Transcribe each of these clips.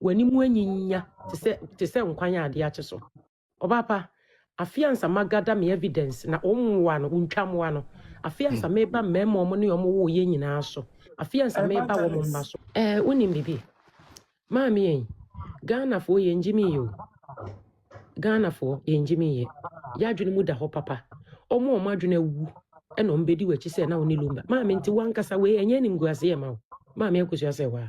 w'anim anyinya te sɛ te sɛ nkwan a ade akye so. Ɔbaa pa, afe ansa magada me evidence na wɔn mmoa no, wontwa mmoa no. Afe ansa meba mmarima wɔn ne wɔn woo yɛn nyinaa so. Afe ansa meba wɔn mma so. Ɛɛ, wonim biribi? Maame ei, Ghanafoɔ yɛn gye me yɛ o. Ghanafoɔ yɛn gye me yɛ. Yɛadwene mu da hɔ papa. Wɔn a wɔn adwene awu ɛna wɔn bɛdi w'akyi sɛ na wo ne lumba. Maame nti wankasa wei ɛnyɛ animguaseɛ ma wo. Maame akusua sɛ waa.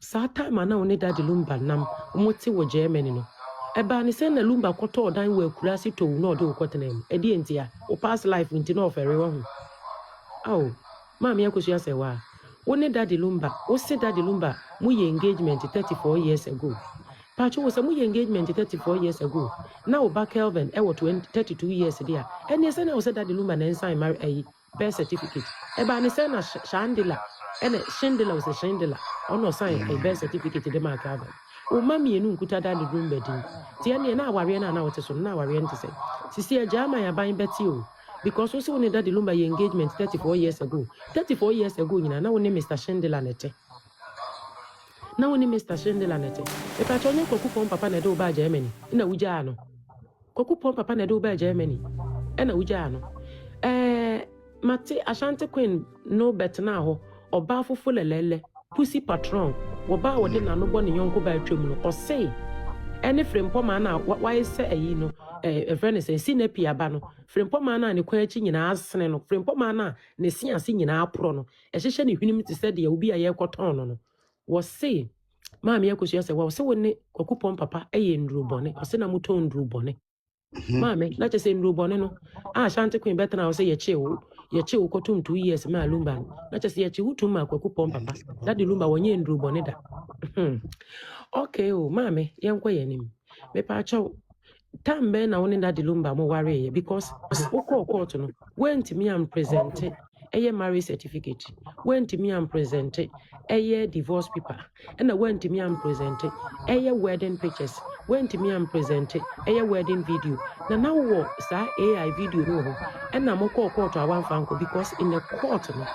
Saa time a na wo ne Daddy Lumba nam mo te wɔ Germany no, ɛbaa ne sɛn na Lumba kɔtɔɔ dan wɔ Akurase tow na ɔde wo kɔtenaa mu? Ɛdeɛn ntia? Wo past life nti na ɔfɛre wahu? Ao, Maame Akosua Sɛwaa, wo ne Daddy Lumba, wo se Daddy Lumba mo yɛ engagement thirty four years ago. Paatwo wo sɛ mo yɛ engagement thirty four years ago na wo ba Kelvin ɛwɔ twen thirty two years deɛ a, ɛnneɛ sɛn na wo sɛ Daddy Lumba na ɛnsan mma ayi Birth certificate ɛbaa ne sɛn na Shandela ɛna Shindela ɔsɛ Shindela ɔna ɔsan ɛyɛ birth certificate de maa Calvin wo mma mmienu nkuta da ne dum bɛ din ti ɛneɛ na awareɛ no a na wote so no na awareɛ no te sɛn sisi agyaman aban bɛte o because wo se wo ne Daddy Lumba yɛ engagement 34 years ago 34 years ago nyinaa na wo ne Mister Shindela na ɛte na wo ne Mister Shindela na ɛte mepakyɛ ɔnyɛ Kwaku Fɔn papa na ɛde wo baa Germany na wogyaa no. Kwaku pɔn papa na ɛde wo baa Germany ɛna wogyaa no. Ɛɛ mate Ashanti Queen no bɛtenaa hɔ ɔbaa fofo lɛlɛlɛ Pussy Patron wɔbaa wɔde nano bɔ ne yɔnko baa twam no ɔsee ɛne Frempɔmaa no a wayɛ sɛ ayi no ɛɛ ɛfrɛ ne sɛn Sinapi aba no Frempɔmaa no a ne kɔn akyi nyinaa asene no Frempɔmaa no a ne se ase nyinaa aporɔ no ɛhyehyɛ ne hwenem te sɛ deɛ obi a yɛrekɔtɔn no no wɔsee maame akosua sɛ wɔn sɛ wɔn ne kwakupɔn papa yɛ nnuro bɔne ɔsɛ na motɔn nnuro bɔne mhm. maame na kyɛ sɛ nnuro bɔne no a ashanti queen bɛtena ɔsɛ yɛkye wo yɛkye wo kɔtom two years maa lumba no na kyɛ sɛ yɛkye wo tum maa kwakupɔn papa na de lumba wɔnyɛ nnuro bɔne da hmm. okay o oh, maame yɛnkɔ yɛn anim mepaakyɛw Time bɛn na wo ne Daddy Lumba mo wareeɛ because wo kɔɔ court no woantumi am presente ɛyɛ marriage certificate woantumi am presente ɛyɛ divorce paper ɛna woantumi am presente ɛyɛ wedding pictures woantumi am presente ɛyɛ wedding video na na wowɔ saa AI video no wɔ hɔ ɛna mo kɔɔ court a woamfa nkɔ because in the court no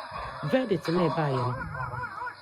verdict na ɛbaeɛ no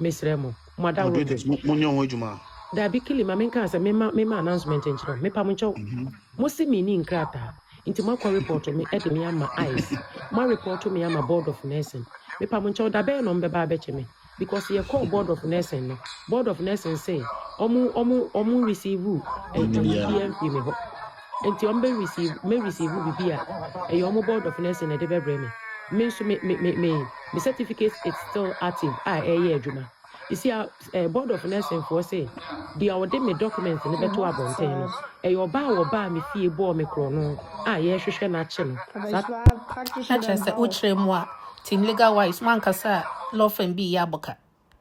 Mesrɛ mo, mo adaworo no. Moderators, mo, mo nyɛ ho adwuma. Dabi Kili ma menkaa sɛ mema mema announcement nkyerɛ wo. Mepa mo nkyɛw. Mhm. Mo se menni nkrataa. Nti moakɔ report me ɛde me ama ICE. Moa report me ama board of nursing. Mepa mo nkyɛw da bɛyɛ na ɔmo bɛba abɛkye me. Because yɛ call board of nursing no. Board of nursing se ɔmo ɔmo ɔmo receive eh, Ɛnyɛ ɔmo biara. biara mfiri me hɔ. Nti wɔn bɛ receive me receive bibi a ɛyɛ wɔn board of nursing na ɛde bɛ brɛ me. Me nso me me me me me certificate it's still active a ɛyɛ adwuma. You see a eh, board of nursing foɔ se deɛ ɔde me document no bɛto abɔnten no ɛyɛ ɔbaa a wɔbaa me fie bɔɔ me korɔno a yɛrehwehwɛ no akye no saa na kyerɛ sɛ wokyerɛ mu a team legal wise wankasa a law firm bi yɛ aboka